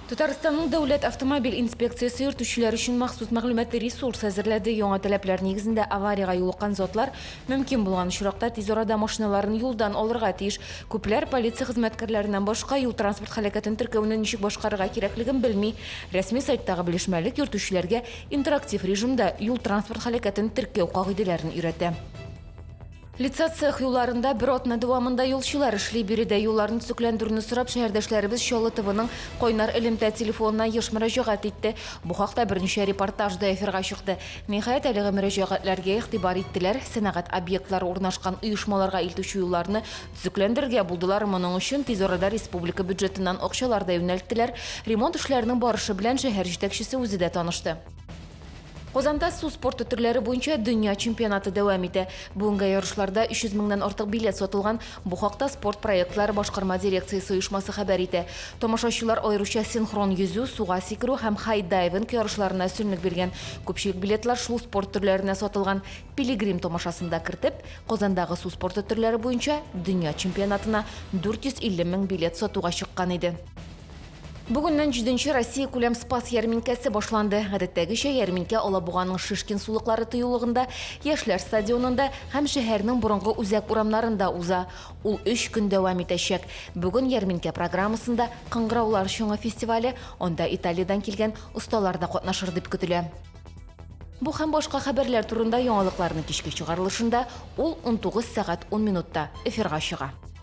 Татарстанның дәүләт автомобиль инспекциясе йөртүчеләр өчен махсус мәгълүмати ресурс әзерләде. Яңа таләпләр нигезендә авариягә юлыккан затлар мөмкин булган очракта тиз арада машиналарын юлдан алырга тиеш. Күпләр полиция хезмәткәрләреннән башка юл-транспорт һәлакәтен теркәүне ничек башкарырга кирәклеген белми. Рәсми сайттагы белешмәлек йөртүчеләргә интерактив режимда юл-транспорт һәлакәтен теркәү кагыйдәләрен өйрәтә. Лица цех юлларында бер атна дәвамында юлчылар эшли. Биредә юлларны төзекләндерүне сорап шәһәрдәшләребез Чаллы ТВның Кайнар элемтә телефонына еш мөрәҗәгать итте. Бу хакта берничә репортаж да эфирга чыкты. Ниһаять, әлеге мөрәҗәгатьләргә игътибар иттеләр, сәнәгать объектлары урнашкан оешмаларга илтүче юлларны төзекләндерергә булдылар. Моның өчен тиз арада республика бюджетыннан акчалар да юнәлттеләр. Ремонт эшләренең барышы белән шәһәр җитәкчесе үзе дә танышты. Казанда су спорты төрләре буенча дөнья чемпионаты дәвам итә. Бүгенгә ярышларда 300 меңнән артык билет сатылган. Бу хакта Спорт проектлары башкарма дирекциясе оешмасы хәбәр итә. Тамашачылар аеруча синхрон йөзү, суга сикерү һәм хай-дайвинг ярышларына өстенлек биргән. Күпчелек билетлар шул спорт төрләренә сатылган. Пилигрим тамашасын да кертеп, Казандагы су спорты төрләре буенча дөнья чемпионатына 450 мең билет сатуга чыккан иде. Бүгеннән җиденче Россиякүләм Спас ярминкәсе башланды. Гадәттәгечә, ярминкә Алабуганың Шишкин сулыклары тыюлыгында, Яшьләр стадионында һәм шәһәрнең борынгы үзәк урамнарында уза. Ул өч көн дәвам итәчәк. Бүген ярминкә программасында Кыңгыраулар чыңы фестивале, анда Италиядән килгән осталар да катнашыр дип көтелә. Бу һәм башка хәбәрләр турында яңалыкларның кичке чыгарылышында, ул унтугыз сәгать ун минутта, эфирга чыга.